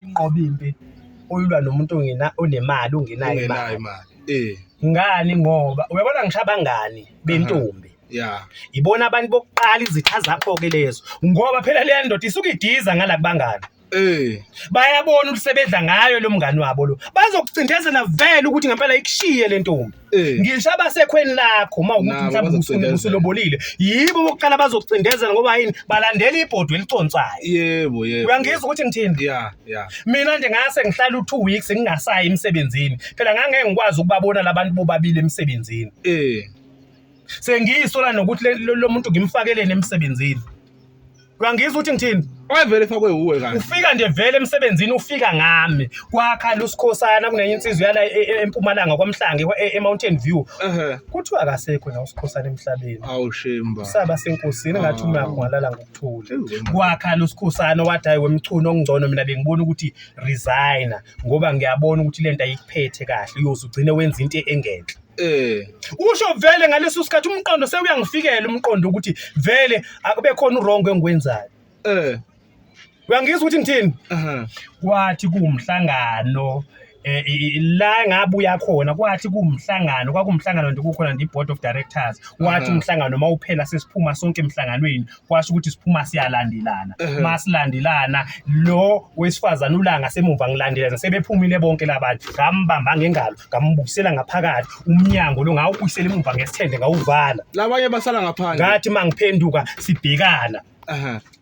inqoba impi uyilwa nomuntu ongena onemali ungenayo ungenayo imali imali eh ngani ngoba uyabona ngisho abangani bentombi ya ibona abantu bokuqala izitha zakho-ke lezo ngoba phela leya ndoda isuke idiza ngala kubangani eh bayabona ukuthi sebedla ngayo lo mngani wabo lo bazokucindezela vele ukuthi ngempela ikushiye le ntombi Eh. ngisho abasekhweni lakho uma ukuthi mhlawumbe usuke usulobolile yibo bokuqala bazokucindezela ngoba yini balandela ibhodwe eliconsayo yebo yebo uyangizwa ukuthi ngithini yeah yeah mina nje ngase ngihlala u2 weeks ngingasayi emsebenzini phela ngangeke ngikwazi ukubabona labantu bobabili emsebenzini eh sengiyisola nokuthi le- lo lo muntu ngimfakeleni emsebenzini uyangizwa ukuthi ngithini Wayevele efakwe uwe kanti. ufika nje vele emsebenzini ufika ngami kwakhala usikhosana kunenye insizwa yala e- e- empumalanga kwamhlange kwa- e- e-mountain view Ehhe. kuthiwa akasekho la usikhosana emhlabeni Awu shemba. saba senkosini ngathi uma Awu. kungalala ngokuthula Ewu, wena. kwakhala usikhosana wathi hayi wemchunu okungcono mina bengibona ukuthi resigner ngoba ngiyabona ukuthi le nto ayikuphethe kahle uyoze ugcine wenza into engenhle Eh. Usho vele ngaleso sikhathi umqondo sewuyangifikela umqondo ukuthi vele akube khona uwrong engikwenzayo. Eh. Uyangizwa ukuthi ngithini? Aha. Kwathi kuwumhlangano eh la ngabuya khona kwathi kuwumhlangano kwakumhlangano nje kukhona nje iboard of directors wathi umhlangano mawuphela sesiphuma sonke emhlanganweni kwasho ukuthi siphuma siyalandelana uma silandelana lo wesifazane ulanga semumva ngilandelana sebephumile bonke labantu ngambamba ngengalo ngambukisela ngaphakathi umnyango lo ngawubuyisela emumva ngesithende ngawuvala labanye basala ngaphandle ngathi uma ngiphenduka sibhekana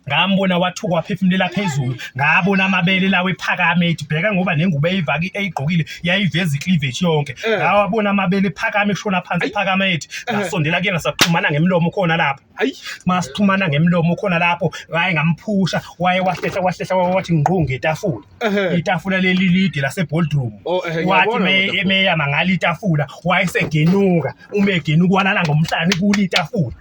ngambona wathuka waphefumulela phezulu ngabona amabele lawo ephakame ethi bheka ngoba nengubo eyivaki eyigqokile yayiveza icleavage yonke eh. ngawabona amabele ephakame eshona phansi ephakame ethi eh. ngasondela kuyena saxhumana ngemlomo khona lapha hayi masithumana ngemlomo khona lapho waye ngamphusha waye wahlehla wahlehla waye wathi ngqo ngetafula Ehhe. itafula leli lide laseboldroom Oh, ehhe, wathi ngiyabona me- kodwa. emeyama ngalo itafula wayesegenuka uma egenuka walala ngomhlane kuli itafula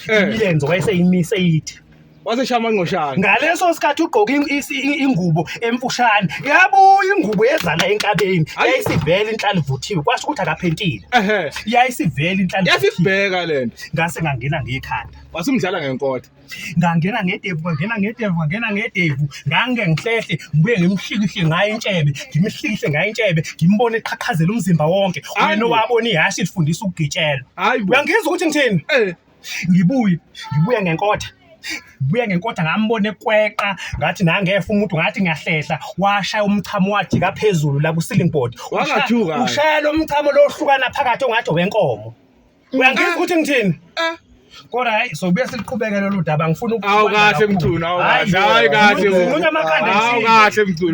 Eh. imilenze wayeseyimise ithi waseshaya amangqoshana ngaleso sikhathi ugqoke in- isi- i- ingubo emfushane yabuya ingubo yezala enkabeni Ayi. yayisivele inhlala ivuthiwe kwasho ukuthi akaphentile ehe yayisivele inhlala ivuthiwe. yasibheka lento ngase ngangena ngekhanda wase umdlala ngenkotha ngangena ngedevu ngangena ngedevu ngangena ngedevu ngange ngihlehle ngibuye ngimhlikihle ngayo intshebe ngimhlikihle ngayo intshebe ngimbone eqhaqhazela umzimba wonke wena owabona ihhashi lifundisa ukugitshelwa uyangizwa ukuthi ngithini eh. ngibuye ngibuye ngenkotha buye ngenkotha ngambona ekweqa ngathi nangefa umuntu ngathi ngiyahlehla washaya umchamo wathi kaphezulu la ku-ceiling board ushayela umchamo lohlukana phakathi ongathi owenkomo uyangizwa ukuthi ngithini ah. kodwa hayi sobuye siluqhubeke lolu daba ngifuna awu kahle mthuna awu kahle hayi kahle mthuna awu kahle mthuna